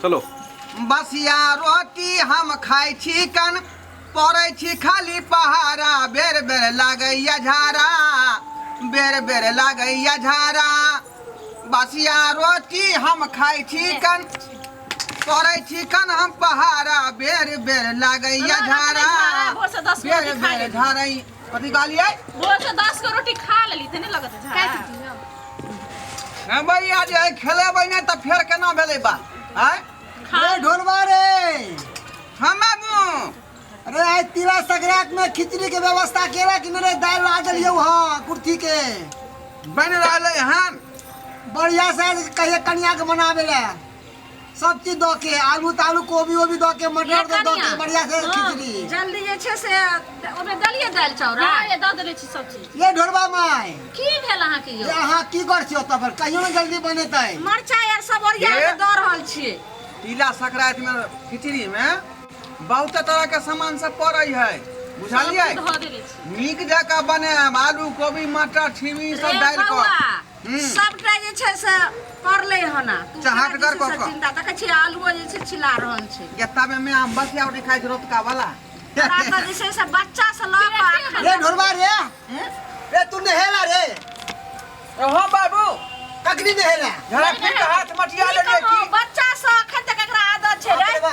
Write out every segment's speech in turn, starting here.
चलो बसिया रोटी हम खाइ छी कन पड़ै छी खाली पहाड़ा बेर बेर लागैया झाड़ा बेर बेर लागैया झाड़ा बसिया रोटी हम खाइ छी कन पड़ै छी कन हम पहाड़ा बेर बेर लागैया झाड़ा बेर बेर झाड़ै कथी कहलियै रोज के दस गो रोटी खा लेली ते नहीं लगत है झाड़ा ए भैया जे है खेलेबै नहि तऽ फेर केना भेलै बात आय खा अरे ढोलवा रे हम आबू अरे आइ तिला संक्रांत में खिचड़ी के व्यवस्था केला कि मेरे दाल ला देलियो हाँ कुर्ती के बनि रहलै हन बढ़िया से कहिए कनिया के मनावे ला सब चीज दऽ के आलू तालू कोबी ओबी दऽ के मटर ये दऽ दऽ कनिया। के बढ़िया से हाँ, खिचड़ी जल्दी जे छै से ओहिमे देलियै दालि चाउर हाँ, ये दऽ देले छी सब चीज ये ढोरबा माय की भेल अहाँके जे यौ अहाँ की कर छियो तब पर कहियो ने जल्दी बनेतै मरचाइ आर सब ओरिया ये? के दऽ रहल छियै तिला संक्रांति में खिचड़ी में बहुत तरह के सामान सब पड़े है सब बुझलिए चीज धऽ देले छी नीक जकाँ बनाएब आलू कोबी मटर छिमी सब रे डालि बौआ, कऽ सबटा जे छै से पड़लै हन आ। तू चाहत कहाँ गर दिस कऽ से कऽ। चिन्ता देखै छियै आलुओ जे छै छिला रहल छै गेताबे में आम बसिया उठी खाइ छै रोतका वाला हमरा तऽ जे छै से बच्चा से लऽ कऽ आखन रे ढोरबा रे हैं? रे तू नहेला रे हाँ बाबू कखनी नहेला झड़क के हाथ मटिया की लेलिए कहूँ, की बच्चा से अखन तक एकरा आदत छै रे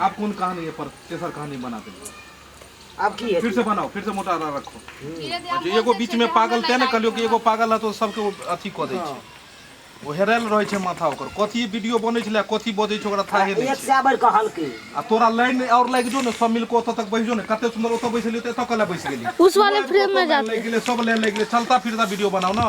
आप कौन कहानी है पर तेसर कहानी बना दे अब की है फिर से बनाओ फिर से मोटा आरा रखो जे एगो बीच में पागल ते ने कहलियो कि एगो पागल है तो सबके ओ अथी क दै छै ओ हेरायल रहै छै माथा ओकर कथी वीडियो बनै छलै कथी बजै छै ओकरा थाहे नहि एक छै से बढ़ कहल की आ तोरा लाइन और लागि जो ने सब मिल के ओतऽ तक बैस जो ने कते सुंदर ओतऽ बैसलियो तऽ एतऽ कला बैस गेली उस वाले फ्रेम में जाते लागि गेलै सब लाइन लागि गेलै चलता फिरता वीडियो बनाओ ना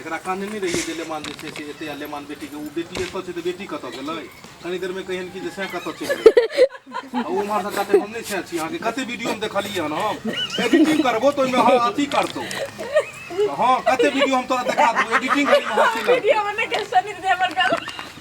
एकरा कानने नहि रहियै जे लेमान जे छै से एते आ लेमान बेटीके ओ बेटी एतऽ छै तऽ बेटी कतऽ गेलै कनी देरमे कहियन कि जे सएह कतऽ चलि गेलै आ ओ उम्हर से कहते हम नहि सएह छी अहाँके कते वीडियोमे देखलियै हन हम एडिटिंग करबो तऽ ओहिमे अहाँ अथी करतौ हँ कते वीडियो हम तोरा देखा देबौ एडिटिंग करी हँसी लगतौ वीडियो में नहीं कैसे नहीं देवर कर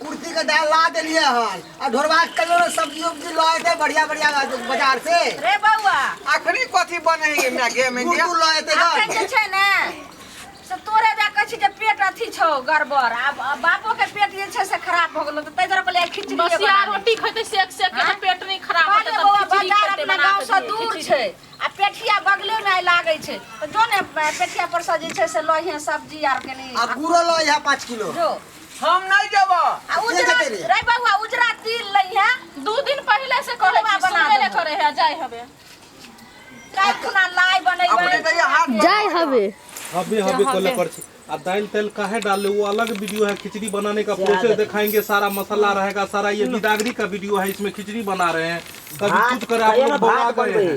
कुर्सी के डाल ला देलिए हन आ ढोरवा के कहियो ना सब्जी उब्जी ला दे बढ़िया बढ़िया बाजार से रे बौआ अखनी कथी बने है हमरा गे में गुड़ गुड़ ला देते अखन जे छै ने से तोरे जा कहै छी जे पेट अथी छौ गड़बड़ आब आब बापो के पेट जे छै से खराब भऽ गेलो तऽ ताहि दुआरे कहलियै खिचड़ी बसिया रोटी खैते सेक सेक के हाँ? पेट नहीं खराब होते कहलियै बौआ तब खिचड़ी बाजार खेते अपना बना गाँव के से दिए, दूर खिचड़ी। छै आ पेठिया बगले में लागै छै तऽ जो ने पेठिया पर से जे छै से लहिए सब्जी आर कनी आ गुड़ो ला यहाँ पाँच किलो जो हम नहीं जब आ उजरा रे बबुआ उजरा तिल लई है दू दिन पहले से करे हलवा बना बना देबो। करे है जाय हबे काहे खुना लाई अपने बनैबै तो ये हाथ जाय हवे हबे हबे कोले कर छी आ दाल तेल काहे डाले वो अलग वीडियो है खिचड़ी बनाने का प्रोसेस दिखाएंगे सारा मसाला रहेगा सारा ये बिदागरी का वीडियो है इसमें खिचड़ी बना रहे हैं कभी कुछ करे आप लोग बना गए हैं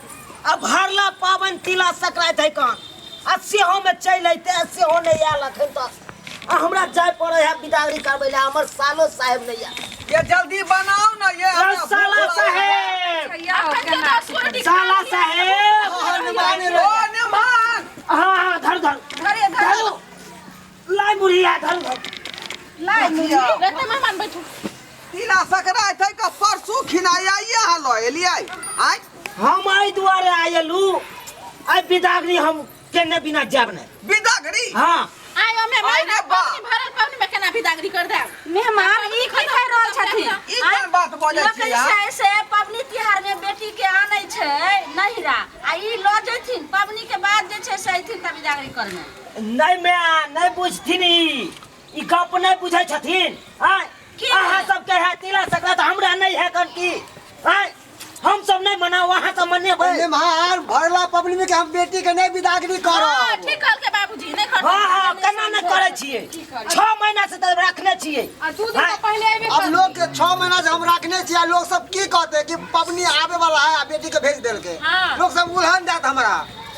आ भरला पाबनि तिला संक्रान्ति है कहाँ आ सेहो में चल अते आ सेहो नहीं आयल अखन तक आ हमरा जाय पड़े है बिदागरी करबे ले हमर सालो साहेब नहीं आयल ये जल्दी बनाओ ना ये अरे हमरा साला भूख लागल है। साहेब या हो के ना साला साहेब ओ निमान हाँ हाँ धर धर धरे धर धरो लाई बुढ़िया धन घर लाई मुझे रहते मैं मान बैठू तिला सकराय थे का परसू खिनाई आई यहाँ लो एली आई आई हम आई द्वारे आयलू आई बिदागरी हम केने बिना जाब ने बिदागरी हां आई हमें मैं ना पानी भरल पानी में केना बिदागरी कर दे मेहमान ई की कह रहल छथि ई कोन बात बोले छी यार कैसे से पबनी तिहार में बेटी के आनै छै नहिरा आ ई लो जेथिन पबनी के बाद जे छै से एथिन तब बिदागरी करने नहि माय नहि बुझथिन ई ई गप नहि बुझै छथिन आय की? अहाँ सबके है तिला संक्रांत हमरा नहि है कन की आय हम सब नहि मनाओ अहाँ सब मनेबै निम्हार भरला पबनी में के हम बेटी के नहीं विदागरी हँ, करब ठीक कहलकै बाबूजी नहि खर्च हँ हँ केना नहि करै छियै छओ महीना से तऽ रखने छियै आ दू दिन आय, से पहिले एबे अब लोग के छह महीना से हम रखने छियै लोग सब की कहते कि पबनी आवे वाला है आ बेटी के भेज देलके हाँ। लोग सब उलहन जात हमरा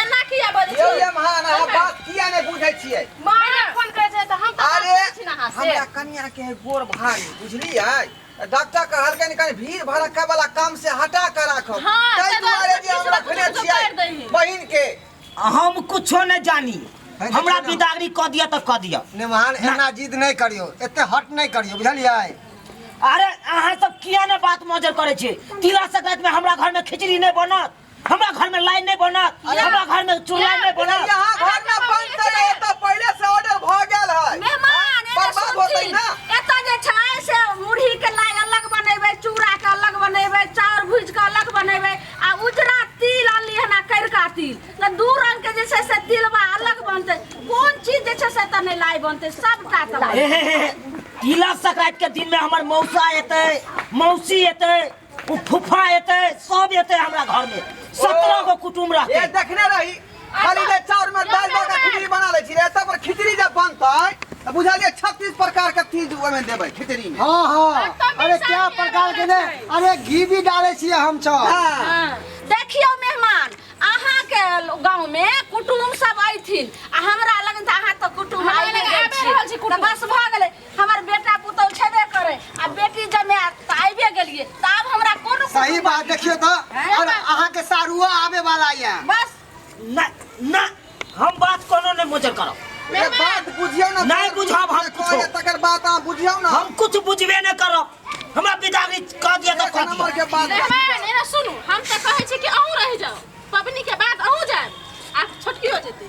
एना किया बजै यौ छी ये महान अहाँ बात किया नहि बुझै छियै मारे फोन करे छै त हम त अरे बात छी ना हां से हमरा कनिया के है गोर भारी बुझलियै डॉक्टर कहलकै कनि भीड़ भड़क्का वाला काम से हटा के राखब हाँ, ताहि ताहि दुआरे दुआरे जे हम किछु रखने किछु छियै कर दही। बहिन के हम कुछो नहि जानी है, हमरा देखियौ ने। बिदागरी कऽ दिअ तऽ कऽ दिअ निमान एना जिद नहि करियो एते हट नहि करियो बुझलियै अरे अहाँ सब किया ने बात मजर करै छी तिला संक्रांति में हमरा घर में खिचड़ी नहीं बनत हमरा घर में लाइन नहीं बनत हमरा घर में चूल्हा नहीं बनत यहाँ घर ना बनते रहे तो पहले से ऑर्डर भ गेल है मेहमान एने बर्बाद होतै सुनथिन। ना एतऽ जे छै से मुरही के लाइ अलग बनेबै चूड़ा के अलग बनेबै चाउर भूज के अलग बनेबै आ उजरा तिल अनली हन आ करिका तिल तऽ दू रंग के जे छै से तिलबा अलग बनतै कोन चीज जे छै से एतऽ नहि लाइ बनतै सबटा तऽ लाइ हे, हे, हे, तिला संक्रांति के दिन में हमर मौसा एतै मौसी एतै ओ फुफा एते सब एते हमरा घर में सत्रह गो कुटुम ये रहते देखने रही खाली जे चाउर में दाल दऽ के खिचड़ी बना लै छी रे सब पर खिचड़ी जब बनतै तऽ बुझलियै छत्तीस प्रकार के चीज ओहिमे देबै खिचड़ी में हाँ हाँ तब अरे पैसा क्या नहीं प्रकार के ने लगतै। अरे घी भी डाले छिए हम सब हाँ। देखियौ मेहमान अहाँके गाँव में कुटुम सब अयथिन आ हमरा लगन तऽ अहाँ तऽ कुटुम हमरा आइए लगन गेल आबि छी रहल छी तऽ कुटुम। बस भऽ गेलै हमर बेटा पुतौ छेबे करे आ बेटी जमे त आइबे गेलिए त आब हमरा कोनो सही बात देखियो तो हैं? और अहाँ के सारुआ आवे वाला या बस ना ना हम बात कोनो नहीं मुझे करो ए बात बुझियो ना नहीं बुझाब हम कुछो। कोने तकर बात अहाँ बुझियो ना हम कुछ बुझबे नहीं करो हमरा बिदारी कह दिया तो एक कह नंबर दिया के बात मेहमान एना सुनू हम त कहै छी कि अहूँ रहि जाओ पबनी के बाद अहूँ जाएब आ छोटकियो जेतै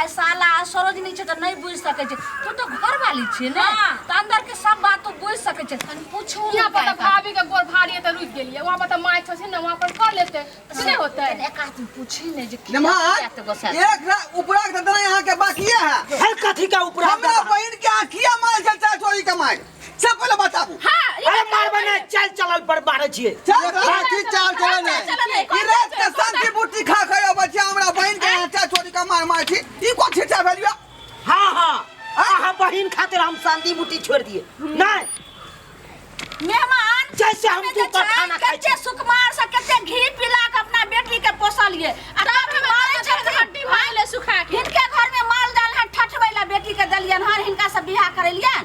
आइ साला आ सरोजनी छै तऽ नहि बुझि सकै छै तू तऽ घर वाली छियै ने तऽ अंदर के सब बात तू बुझि सकै छै तनी पूछू यहाँ पर तऽ भाभी के गोर भारी है तऽ रुक गेलिए वहाँ पर तऽ माय छथिन ना वहाँ पर कर लेते से नहीं होते एक आदमी पूछी ने जे की नमहर बात गोसा एक रा- उपरा के दतना यहाँ के बाकिए है हर कथी का उपरा हमरा बहन के आँखिया मार से चार चोरी कमाए सब पहिले बताबू हाँ ये अरे बात मारबे नहीं चल चलल पर मारे छिए चल बाकी चाल चले ने चल चले, ई रात के शांति बुटी खा खयो बच्चा हमरा बहन के यहाँ चाय छोड़ी का मार मार छी ई को छिटा भेलियो हां हां आहा बहिन खातिर हम शांति बूटी छोड़ दिए नहीं मेहमान जैसे हम तू पर खाना खाइ कच्चे सुकुमार से कच्चे घी पिला के अपना बेटी के पोसलिए आ तब हम मारे छत हड्डी भाई ले सुखा के इनके घर में माल डाल है ठठबै ला बेटी के दलियन हर इनका से बियाह करेलियन